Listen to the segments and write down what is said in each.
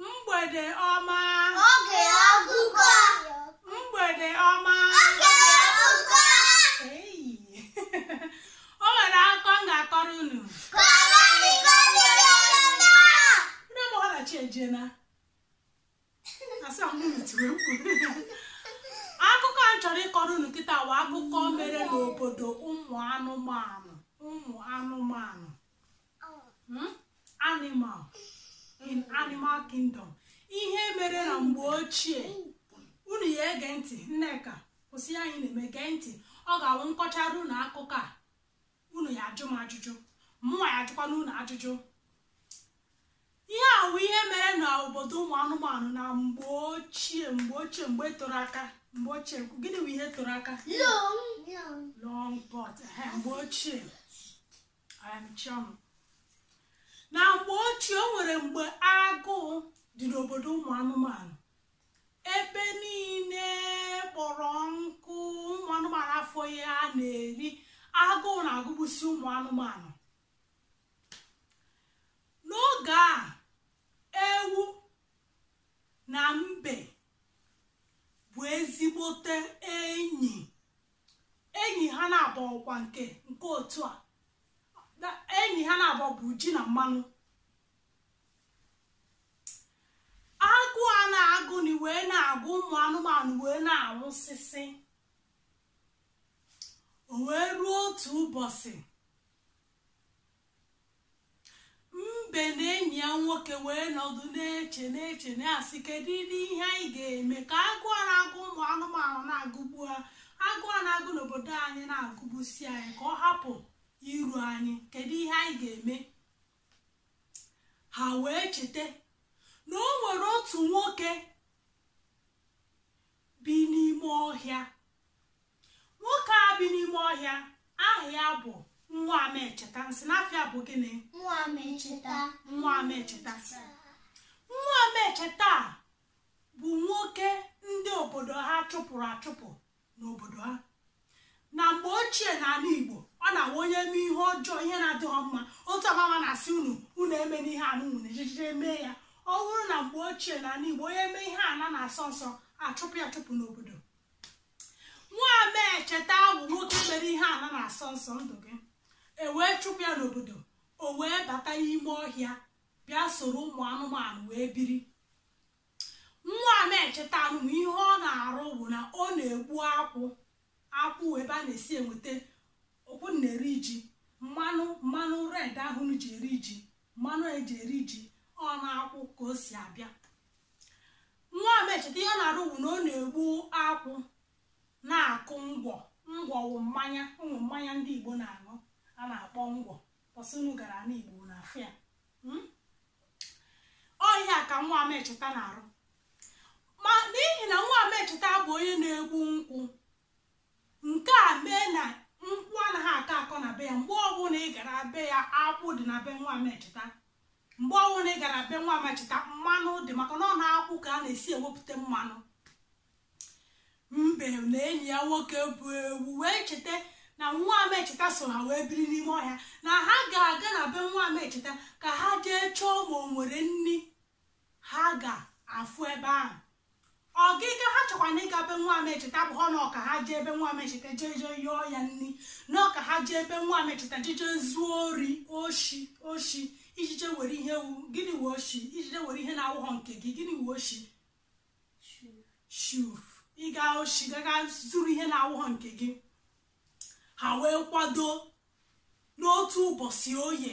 mgbede ọma oge ọgụgụ mgbede ọma oge ọgụgụ eyi o nwere akụkọ m ga-akọrọ unu kọrọ anyị ka obi dị anyị mma ndị ọgbọ ha na-achị ejena asaa mụrụ tiri mkpu akụkọ a m chọrọ ịkọrọ unu kịta wụ akụkọ mere n'obodo ụmụ anụmanụ ụmụ anụmanụ hmm? animal in animal kingdom ihe mere na mgbe ochie unu ya ege ntị nneka kwụsị ihe a ị na-eme gee ntị ọ ga-awụ m kọchara unu akụkọ a unu ya ajụ m ajụjụ mụnwa ya ajụkwana unu ajụjụ ihe a wụ ihe mere na obodo ụmụ anụmanụ na mgbe ochie mgbe ochie mgbe e toro aka mgbe ochie gịnị bụ ihe toro aka long past mgbe ochie na mgbe ochie o nwere mgbe agụụ dị n'obodo ụmụ anụmanụ ebe niile kpọrọ nkụ ụmụ anụmanụ afọ ihe ha na-eri agụụ na-agụgbusi ụmụ anụmanụ n'oge a ewu na mbe bụ ezigbote enyi enyi ha naabọ ọkwa nke nke otu a enyi ha naabọ bụ ji na mmanụ agụụ a na-agụ nị wee na-agụ ụmụ anụmanụ wee na-anwụsịsị o wee ruo otu ụbọchị mbe na enyi ya nwoke wee nọdụ na-eche na-eche na-asị kedu ihe anyị ga-eme ka agụụ a na-agụ ụmụ anụmanụ na-agụgbu ha agụụ a na-agụ n'obodo anyị na-agụgbusi anyị ka ọ hapụ iru anyị kedu ihe anyị ga-eme ha wee cheta na o nwere otu nwoke bi n'ime ọhịa nwoke a bi n'ime ọhịa aha ya bụ nwa amecheta m sị na afa ya bụ gịnị nwa amecheta nwa amecheta nwa amecheta bụ nwoke ndị obodo ha chụpụrụ achụpụ n'obodo ha na mgbe ochie n'ala Igbo ọ na-awụ onye mee ihe ọjọọ ihe na-adịghị mma otu a mama na-asị unu unu emena ihe a unu ejijide mee ya ọ bụrụ na mgbe ochie n'ala Igbo onye mee ihe ana na-asọ nsọ a chụpụ ya achụpụ n'obodo nwa amecheta wụ nwoke mere ihe ana na-asọ nsọ ndụ gị e wee chụpụ ya n'obodo o wee bata n'ime ọhịa bịa soro ụmụ anụmanụ wee biri nwa amecheta anụ ma ihe ọ na-arụ bụ na ọ na-egbu akwụ akwụ ebe a na-esi enweta nke unu na-eri iji mmanụ mmanụ red ahụ unu ji eri iji mmanụ eji eri iji ọ n'akwụ ka o si abịa nwa amecheta ihe ọ na-arụ bụ na ọ na-egbu akwụ na-akụ ngwọ ngwọ wụ mmanya wụ mmanya ndị igbo na-aṅụ a na-akpọ ngwọ ọ sị unu gara n'igbo unu afụ ya Hmm? ọ ihe a ka nwa amecheta na-arụ ma n'ihi na nwa amecheta bụ onye na-egbu nkwụ nke a mee na nkwụ anaghị akọ akọ na be ya mgbe ọbụla ị gara be ya akwụ dị na be nwa amecheta mgbe ọbụla ị gara be nwa amecheta mmanụ dị maka na ọ n'akwụ ka a na-esi ewepụta mmanụ mbe na enyi ya nwoke bụ ewu wee cheta na nwa amecheta so ha wee biri n'ime ọhịa na ha ga-aga na be nwa amecheta ka ha jee chọọ ma o nwere nri ha ga-afụ ebe ahụ ọgịga ha chọkwanụ ịga be nwa amecheta abụghị na ọ ka ha jee be nwa amecheta jee jee yọọ ya nri na ọ ka ha jee be nwa amecheta jee jee zuo ori oshi oshi ije jee were ihe wụ gịnị wụ oshi ije jee were ihe na-awụghọ nke gị gịnị wụ oshi thief ịga oshi gaga zuru ihe na-awụghọ nke gị ha wee kwado n'otu ụbọchị oye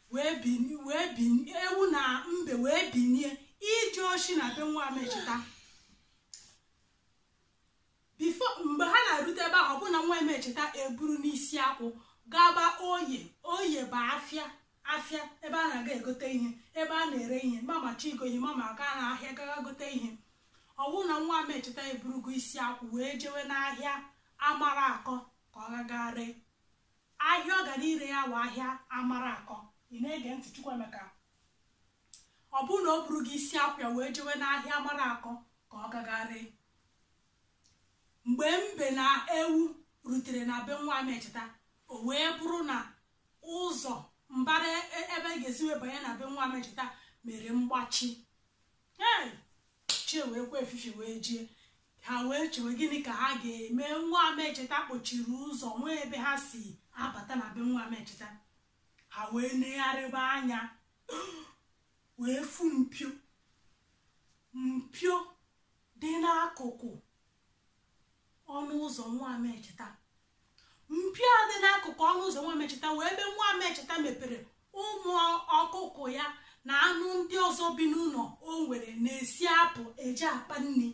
wee binie wee binie ewu na mbe wee binie ije oshi na be nwa amecheta before mgbe ha na-erute ebe ahụ ọ bụ na nwa amecheta eburuna isi akwụ gaba oye oye bụ afịa afịa ebe a na-aga egote ihe ebe a na-ere ihe mama chọọ ịgo ihe mama aga n'ahịa gaga gote ihe ọ wụ na nwa amecheta eburugo isi akwụ wee jewe n'ahịa Amaraku ka ọ gaga ree ahịa ọ gara ire ya wụ ahịa Amaraku ị na-ege ntị Chukwuemeka ọ bụrụ na o burugo isi akwụ ya wee jewe n'ahịa Amaraku ka ọ gaga ree mgbe mbe na ewu rutere na be nwa amecheta o wee bụrụ na ụzọ mbara e, ebe a ga-esi wee banye na be nwa amecheta mere mgbachi chi eweekwa efifie wee jie ha wee chewe gịnị ka ha ga-eme nwa amecheta kpochiri ụzọ o nweghị ebe ha si abata na be nwa amecheta ha wee negharịba anya wee fụ mpio mpio dị n'akụkụ ọnụ ụzọ nwa amecheta mpio dị n'akụkụ ọnụ ụzọ nwa amecheta wee ebe nwa amecheta mepere ụmụ ọkụkọ ya na anụ ndị ọzọ bi n'ụlọ o nwere na-esi apụ eje akpa nri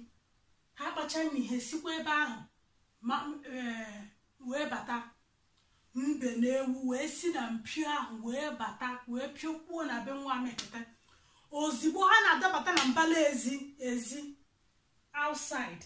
ha kpacha nri ha esikwa ebe ahụ wee bata mbe na ewu wee si na mpio ahụ wee bata wee piokpuo na be nwa amecheta ozigbo ha na-adabata na mbala ezi ezi outside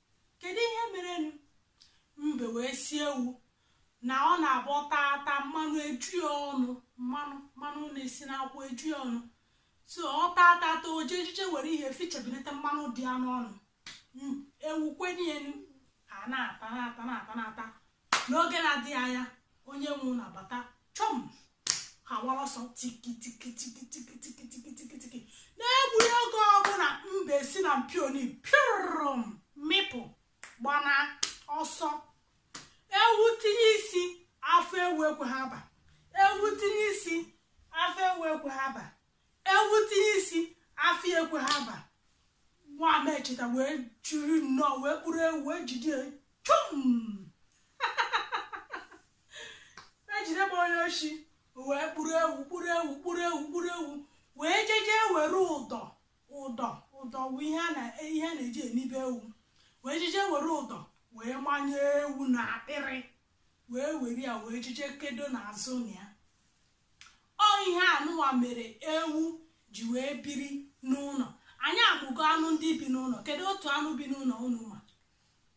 kedu ihe merenụ mbe wee si ewu na ọ na-abụ ọ tata mmanụ eju ya ọnụ mmanụ mmanụ na-esi n'akwụ eju ya ọnụ so ọ tata ata o jee jeje were ihe fichabinata mmanụ dị ya n'ọnụ ewu kwenyenụ ha na-ata na-ata na-ata na-ata n'oge na-adịghị anya onye nwe ụlọ abata chọm ha wara ọsọ tikitikitikitikitikitikitiki n'egbughị oge ọbụla mbe si na mpio nị pịrụm mịpụ gbana ọsọ ewu tinye isi afọ ewu ekweghị aba ewu tinye isi afọ ewu ekweghị aba ewu tinye isi afọ ekweghị aba nwa amecheta wee jiri nnọọ wee kpụrụ ewu wee jide chum ejide m onye oshi wee kpụrụ ewu kpụrụ ewu kpụrụ ewu kpụrụ ewu wee jeje were ụdọ ụdọ ụdọ bụ ihe a na- ihe a na-eji enibe ewu wee jeje were ụdọ wee manye ewu na akpịrị wee were ya wee jeje kedo n'azụ ụlọ ya ọ ihe anụwa mere ewu ji wee biri n'ụlọ anyị amụgo anụ ndị bi n'ụlọ kedu otu anụ bi n'ụlọ unu ma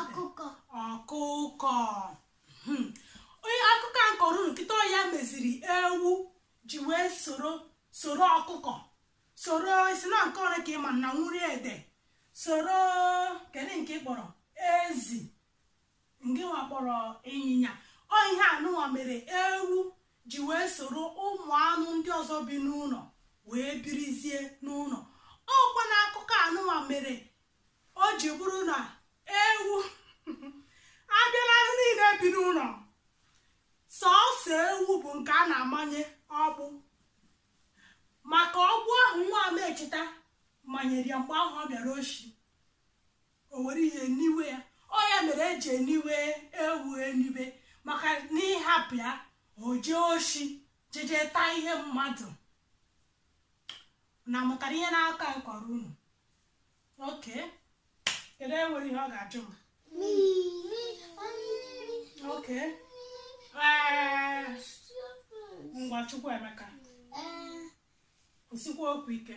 ọkụkọ ọkụkọ hmm. onye akụkọ a m kọrọ unu kịta ọ ya meziri ewu ji wee soro soro ọkụkọ soro ị sị na nke ọrụ ka ị ma na nwuri ede soro kedu nke ị kpọrọ ezi nke nwa kpọrọ ịnyịnya ọ ihe anụnwa mere ewu ji wee soro ụmụ anụ ndị ọzọ bi n'ụlọ wee birizie n'ụlọ ọkwa na akụkọ anụnwa mere o ji bụrụ na ewu a bịa n'anụ niile bi n'ụlọ sọọsọ ewu bụ nke a na-amanye ọgbụ maka ọgbụ ahụ nwa amecheta manyere ya mgbe ahụ ọ bịara oshi o were ihe niwe ya ọ ya mere e ji eniwe ewu eniwe maka na ị hapụ ya o jee oshi jeje taa ihe mmadụ unu amụtara ihe n'akụkọ m kọrọ unu okay kedu onye nwere ihe ọ ga-ajụ m okay ee, ngwa chukwuemeka kwusikwa okwu ike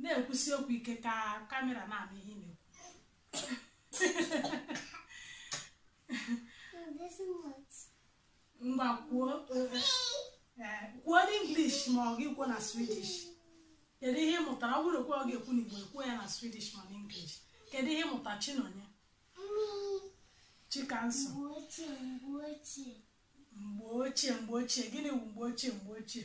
na-ekwusi okwu ike ka kamera na-anụ ihe ị na-ekwu ngwa kwuo eh, kwuo n'english ma ọ gị kwuo na swedish kedu ihe ị mụtara ọ bụrụ okwu ọ ga-ekwu n'igbo ekwuo ya na swedish ma n'english kedu ihe ị mụta chinonye chikanso mgbe ochie mgbe ochie gịnị bụ mgbe ochie mgbe ochie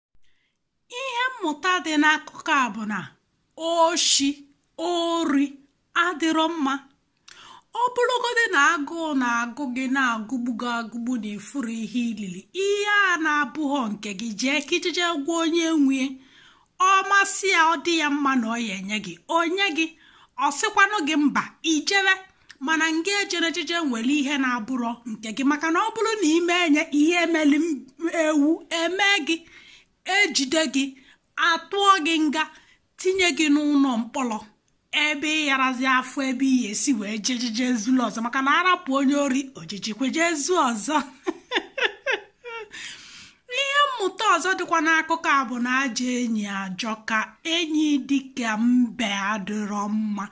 ihe mmụta dị n'akụkọ a bụ na oshi ori adịrọ mma ọ bụrụgodị na agụụ na-agụ gị na-agụgbu gị agụgbu na ị fụrụ ihe ilili ihe a na-abụghọ nke gị jee ka i jije gwa onye nwee ọ masị ya ọ dị ya mma na ọ ya-enye gị o nye gị ọ sịkwanụ gị mba i jere mana ngị ejene jije were ihe na-abụrọ nke gị maka na ọ bụrụ na i mee nya ihe meli ewu emee gị e jide gị a tụọ gị nga tinye gị n'ụlọ mkpọrọ ebe ị yarazi afụ ebe ị ya-esi wee jejije zuru ọzọ maka na a rapụ onye ori o jijekwa je zuo ọzọ ihe mmụta ọzọ dịkwa n'akụkọ a bụ na ajọ enyi ajọka enyi dịka mbe adịrọ mma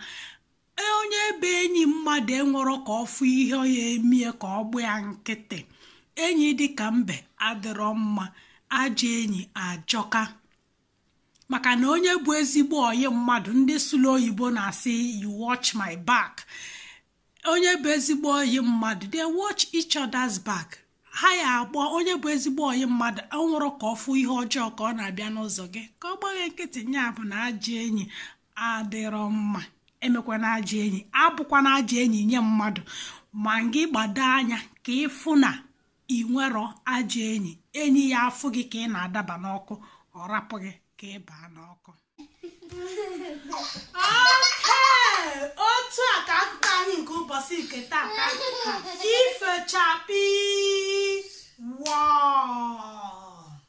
e, onye bụ enyi mmadụ enwero ka ọ fụ ihe ya-eme ya ka ọ gba ya nkịtị enyi dị ka mbe adịrọ mma ajọ enyi ajọka maka na onye bụ ezigbo ọyị mmadụ ndị sụlụ oyibo na-asị you watch my back onye bụ ezigbo ọyị mmadụ they watch each other's back ha ya-agba onye bụ ezigbo ọyị mmadụ enwero ka ọ fụ ihe ọjọọ ka ọ na-abịa n'ụzọ gị ka ọ gba gị nkịtị nya bụ na ajọ enyi adịrọ mma emekwana ajọ enyi abụkwana ajọ enyi nye mmadụ ma gị gbado anya ka ị fụ na i nwero ajọ enyi enyi ya-afụ gị ka ị na-adaba n'ọkụ ọ rapụ gị ka ị baa n'ọkụ otu a ka akụkọ anyị nke ụbọchị nke tata ifechapi wọọ